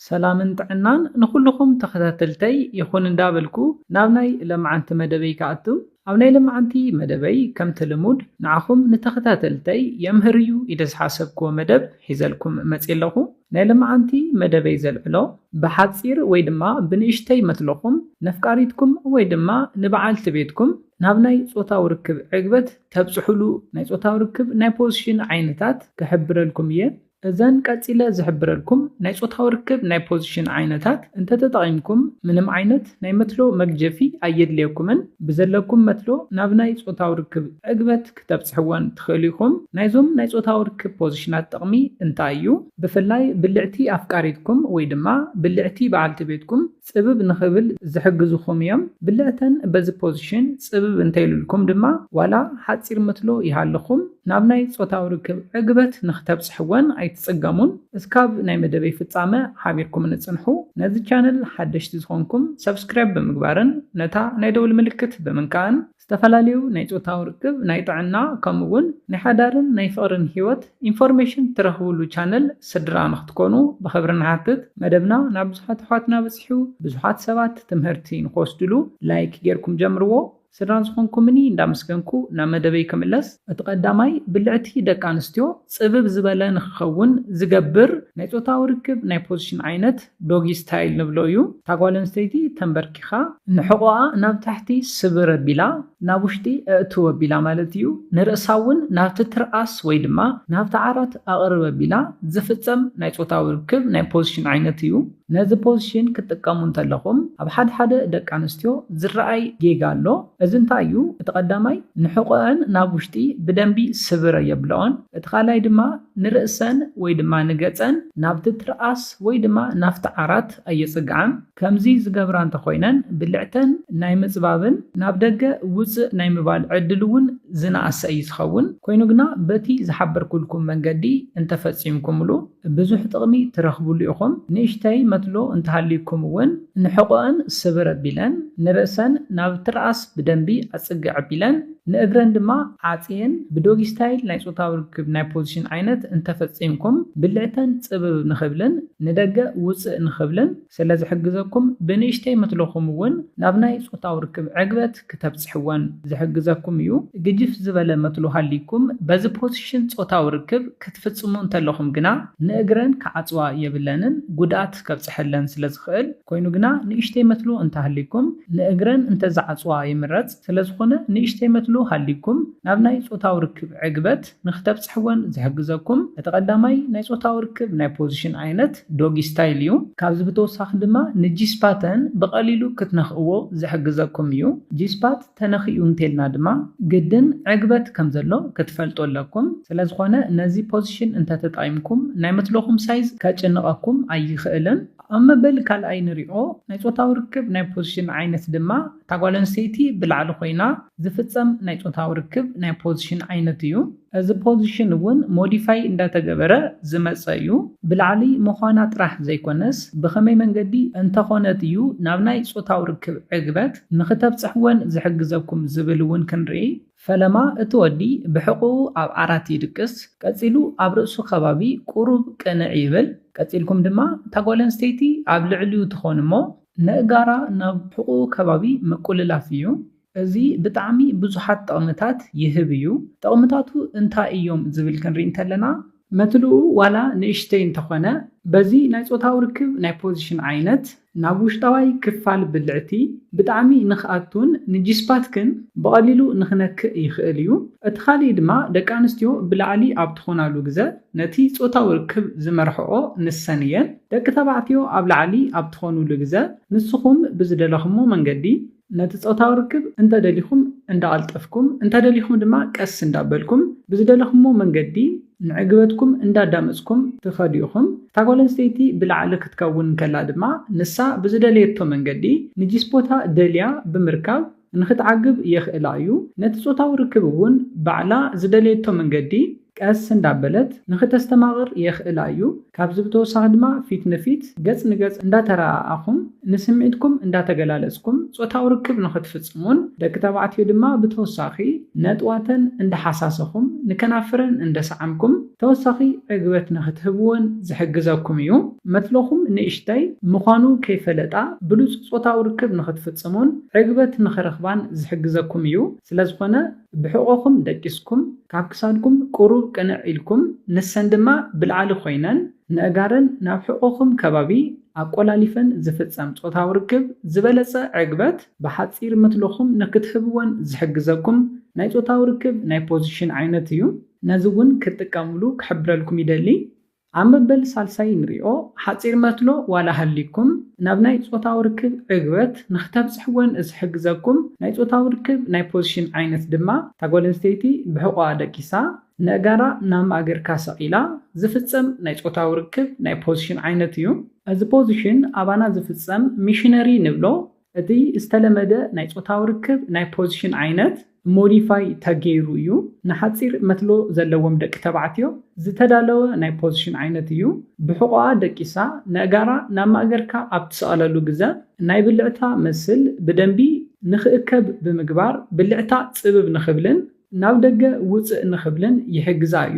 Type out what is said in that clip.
ሰላምን ጥዕናን ንኹሉኹም ተኸታተልተይ ይኹን እንዳበልኩ ናብ ናይ ለማዓንቲ መደበይ ክኣቱ ኣብ ናይ ለማዓንቲ መደበይ ከምቲ ልሙድ ንዓኹም ንተኸታተልተይ የምህር እዩ ኢለ ዝሓሰብክዎ መደብ ሒዘልኩም መጽየ ኣለኹ ናይ ለማዓንቲ መደበይ ዘልዕሎ ብሓጺር ወይ ድማ ብንእሽተይ መትሎኹም ነፍቃሪትኩም ወይ ድማ ንባዓልቲ ቤትኩም ናብ ናይ ጾታዊ ርክብ ዕግበት ተብጽሑሉ ናይ ጾታዊ ርክብ ናይ ፖዝሽን ዓይነታት ክሕብረልኩም እየ እዘን ቀጺለ ዝሕብረልኩም ናይ ጾታዊ ርክብ ናይ ፖዚሽን ዓይነታት እንተተጠቒምኩም ምንም ዓይነት ናይ መትሎ መግጀፊ ኣየድልየኩምን። ብዘለኩም መትሎ ናብ ናይ ጾታዊ ርክብ ዕግበት ክተብጽሕወን ትኽእሉ ኢኹም። ናይዞም ናይ ጾታዊ ርክብ ፖዚሽናት ጥቕሚ እንታይ እዩ? ብፍላይ ብልዕቲ ኣፍቃሪትኩም ወይ ድማ ብልዕቲ በዓልቲ ቤትኩም ጽብብ ንኽብል ዝሕግዙኹም እዮም። ብልዕተን በዚ ፖዚሽን ጽብብ እንተይሉልኩም ድማ ዋላ ሓጺር ምትሎ ይሃልኹም ናብ ናይ ጾታዊ ርክብ ዕግበት ንኽተብጽሕወን ኣይትጽገሙን። እስካብ ናይ መደበይ ፍጻመ ሓቢርኩምኒ ጽንሑ። ነዚ ቻነል ሓደሽቲ ዝኾንኩም ሰብስክራይብ ብምግባርን ነታ ናይ ደውል ምልክት ብምንካእን ዝተፈላለዩ ናይ ጾታዊ ርክብ፣ ናይ ጥዕና ከምኡ ውን ናይ ሓዳርን ናይ ፍቕርን ሂወት ኢንፎርሜሽን ትረኽብሉ ቻነል ስድራ ንኽትኮኑ ብኽብሪ ንሓትት። መደብና ናብ ብዙሓት ኣሕዋትና በጺሑ ብዙሓት ሰባት ትምህርቲ ንኽወስድሉ ላይክ ጌርኩም ጀምርዎ። ስድራ ዝኾንኩምኒ እንዳመስገንኩ ናብ መደበይ ክምለስ። እቲ ቀዳማይ ብልዕቲ ደቂ ኣንስትዮ ጽብብ ዝበለ ንኽኸውን ዝገብር ናይ ጾታዊ ርክብ ናይ ፖዚሽን ዓይነት፣ ዶጊ ስታይል ንብሎ እዩ። እታ ጓል ኣንስተይቲ ተምበርኪኻ ንሕቖኣ ናብ ታሕቲ ስብር ኣቢላ ናብ ውሽጢ ኣእትው ኣቢላ ማለት እዩ። ንርእሳ እውን ናብቲ ትርኣስ ወይ ድማ ናብቲ ዓራት ኣቕርብ ኣቢላ ዝፍጸም ናይ ጾታዊ ርክብ ናይ ፖዚሽን ዓይነት እዩ። ነዚ ፖዚሽን ክትጥቀሙ እንተለኹም ኣብ ሓድሓደ ደቂ ኣንስትዮ ዝረኣይ ጌጋ ኣሎ። እዚ እንታይ እዩ? እቲ ቀዳማይ ንሕቖኣን ናብ ውሽጢ ብደንቢ ስብር ኣየብለኦን። እቲ ካልኣይ ድማ ንርእሰን ወይ ድማ ንገጸን ናብቲ ትርኣስ ወይ ድማ ናብቲ ዓራት ኣየጽግዓን። ከምዚ ዝገብራ እንተኾይነን ብልዕተን ናይ ምጽባብን ናብ ደገ ውጽእ ናይ ምባል ዕድል እውን ዝነኣሰ እዩ ዝኸውን። ኮይኑ ግና በቲ ዝሓበርኩልኩም መንገዲ እንተፈጺምኩምሉ፣ ብዙሕ ጥቕሚ ትረኽብሉ ኢኹም። ንእሽተይ መትሎ እንተሃልዩኩም እውን ንሕቖኣን ስብር ኣቢለን፣ ንርእሰን ናብ ትርኣስ ብደንቢ ኣጽግዕ ኣቢለን፣ ንእግረን ድማ ዓጽየን ብዶጊ ስታይል ናይ ጾታዊ ርክብ ናይ ፖዚሽን ዓይነት እንተፈጺምኩም ብልዕተን ጽብብ ንኽብልን ንደገ ውጽእ ንኽብልን፣ ስለ ዝሕግዘኩም ብንእሽተይ ምትልኹም እውን ናብ ናይ ጾታዊ ርክብ ዕግበት ክተብጽሕወን ዝሕግዘኩም እዩ። ግጅፍ ዝበለ መትሎ ሃልይኩም በዚ ፖሲሽን ጾታዊ ርክብ ክትፍጽሙ እንተለኹም ግና ንእግረን ክዓጽዋ የብለንን ጉድኣት ከብጽሐለን ስለ ዝኽእል። ኮይኑ ግና ንእሽተይ መትሎ እንተሃልይኩም ንእግረን እንተዝዓጽዋ ይምረጽ። ስለ ዝኾነ ንእሽተይ መትሎ ሃልይኩም ናብ ናይ ጾታዊ ርክብ ዕግበት። ንክተብጽሕወን ዝሕግዘኩም እቲ ቀዳማይ ናይ ጾታዊ ርክብ ናይ ፖዚሽን ዓይነት ዶጊ ስታይል እዩ። ካብዚ ብተወሳኺ ድማ ንጂ-ስፓተን ብቐሊሉ ክትነኽእዎ ዝሕግዘኩም እዩ። ጂ-ስፓት ተነኺኡ እንተልና ድማ ግድን ዕግበት ከም ዘሎ ክትፈልጡ ኣለኩም። ስለ ዝኾነ ነዚ ፖዚሽን እንተ ተጠቒምኩም ናይ መትሎኹም ሳይዝ ከጭንቐኩም ኣይኽእልን። ኣብ መበል ካልኣይ ንሪኦ ናይ ጾታዊ ርክብ ናይ ፖዚሽን ዓይነት ድማ እታ ጓል ኣንስተይቲ ብላዕሊ ኮይና ዝፍጸም ናይ ጾታዊ ርክብ ናይ ፖዝሽን ዓይነት እዩ። እዚ ፖዝሽን እውን ሞዲፋይ እንዳተገበረ ዝመጸ እዩ። ብላዕሊ ምዃና ጥራሕ ዘይኮነስ ብኸመይ መንገዲ እንተኾነት እዩ ናብ ናይ ጾታዊ ርክብ ዕግበት ንኽተብጽሕ ወን ዝሕግዘኩም ዝብል እውን ክንርኢ። ፈለማ እቲ ወዲ ብሕቝኡ ኣብ ዓራት ይድቅስ፣ ቀጺሉ ኣብ ርእሱ ከባቢ ቍሩብ ቅንዕ ይብል። ቀጺልኩም ድማ እታ ጓል ኣንስተይቲ ኣብ ልዕሊኡ ትኾን እሞ፣ ነእጋራ ናብ ሕቁኡ ከባቢ ምቁልላፍ እዩ። እዚ ብጣዕሚ ብዙሓት ጠቕምታት ይህብ እዩ። ጠቕምታቱ እንታይ እዮም ዝብል ክንሪኢ እንተለና። መትልኡ ዋላ ንእሽተይ እንተኾነ በዚ ናይ ጾታዊ ርክብ ናይ ፖዚሽን ዓይነት ናብ ውሽጣዋይ ክፋል ብልዕቲ ብጣዕሚ ንክኣቱን ንጂስፓትክን ብቐሊሉ ንክነክእ ይኽእል እዩ። እቲ ካሊእ ድማ ደቂ ኣንስትዮ ብላዕሊ ኣብ ትኾናሉ ግዘ ነቲ ጾታዊ ርክብ ዝመርሕኦ ንሰን እየን። ደቂ ተባዕትዮ ኣብ ላዕሊ ኣብ ትኾኑሉ ግዘ ንስኹም ብዝደለኹሞ መንገዲ ነቲ ፆታዊ ርክብ እንተደሊኹም እንዳቐልጠፍኩም እንተደሊኹም ድማ ቀስ እንዳበልኩም ብዝደለኹሞ መንገዲ ንዕግበትኩም እንዳዳመፅኩም ትኸዱ ኢኹም። እታ ጓል ኣንስተይቲ ብላዕሊ ክትከውን እንከላ ድማ ንሳ ብዝደለየቶ መንገዲ ንጂስፖታ ደልያ ብምርካብ ንኽትዓግብ የኽእላ እዩ። ነቲ ጾታዊ ርክብ እውን ባዕላ ዝደለየቶ መንገዲ ቀስ እንዳበለት ንኽተስተማቕር የኽእላ እዩ። ካብዚ ብተወሳኺ ድማ ፊት ንፊት፣ ገጽ ንገጽ፣ እንዳተረኣኣኹም ንስምዒትኩም እንዳተገላለጽኩም ጾታዊ ርክብ ንኽትፍጽሙን ደቂ ተባዕትዮ ድማ ብተወሳኺ ነጥዋተን እንዳሓሳሰኹም ንከናፍረን እንደሰዓምኩም ተወሳኺ ዕግበት ንኽትህብወን ዝሕግዘኩም እዩ። መትሎኹም ንእሽተይ ምዃኑ ከይፈለጣ ብሉጽ ጾታዊ ርክብ ንኽትፍጽሙን ዕግበት ንኽረኽባን ዝሕግዘኩም እዩ። ስለዝኾነ ብሕቖኹም ደቂስኩም፣ ካብ ክሳድኩም ቁሩብ ቅንዕ ኢልኩም፣ ንሰን ድማ ብላዕሊ ኮይነን ነእጋረን ናብ ሕቖኹም ከባቢ ኣቆላሊፈን ዝፍጸም ጾታዊ ርክብ ዝበለጸ ዕግበት ብሓጺር መትሎኹም ንኽትህብወን ዝሕግዘኩም ናይ ጾታዊ ርክብ ናይ ፖዚሽን ዓይነት እዩ። ነዚ ውን ክትጥቀምሉ ክሕብረልኩም ይደሊ ኣብ መበል ሳልሳይ ንሪኦ ሓጺር መትሎ ዋላ ሃልይኩም ናብ ናይ ጾታዊ ርክብ ዕግበት ንክተብጽሕዎን ዝሕግዘኩም ናይ ጾታዊ ርክብ ናይ ፖዚሽን ዓይነት ድማ እታ ጓል ኣንስተይቲ ብሕቆኣ ደቂሳ ነእጋራ ናብ ማእገርካ ሰቂላ ዝፍጸም ናይ ጾታዊ ርክብ ናይ ፖዚሽን ዓይነት እዩ። እዚ ፖዚሽን ኣባና ዝፍጸም ሚሽነሪ ንብሎ እቲ ዝተለመደ ናይ ጾታዊ ርክብ ናይ ፖዚሽን ዓይነት ሞዲፋይ ተገይሩ እዩ። ንሓጺር መትሎ ዘለዎም ደቂ ተባዕትዮ ዝተዳለወ ናይ ፖዚሽን ዓይነት እዩ። ብሕቖኣ ደቂሳ ነእጋራ ናብ ማእገርካ ኣብ ትሰቕለሉ ግዘ ናይ ብልዕታ መስል ብደንቢ ንክእከብ ብምግባር ብልዕታ ጽብብ ንክብልን ናብ ደገ ውጽእ ንክብልን ይሕግዛ እዩ።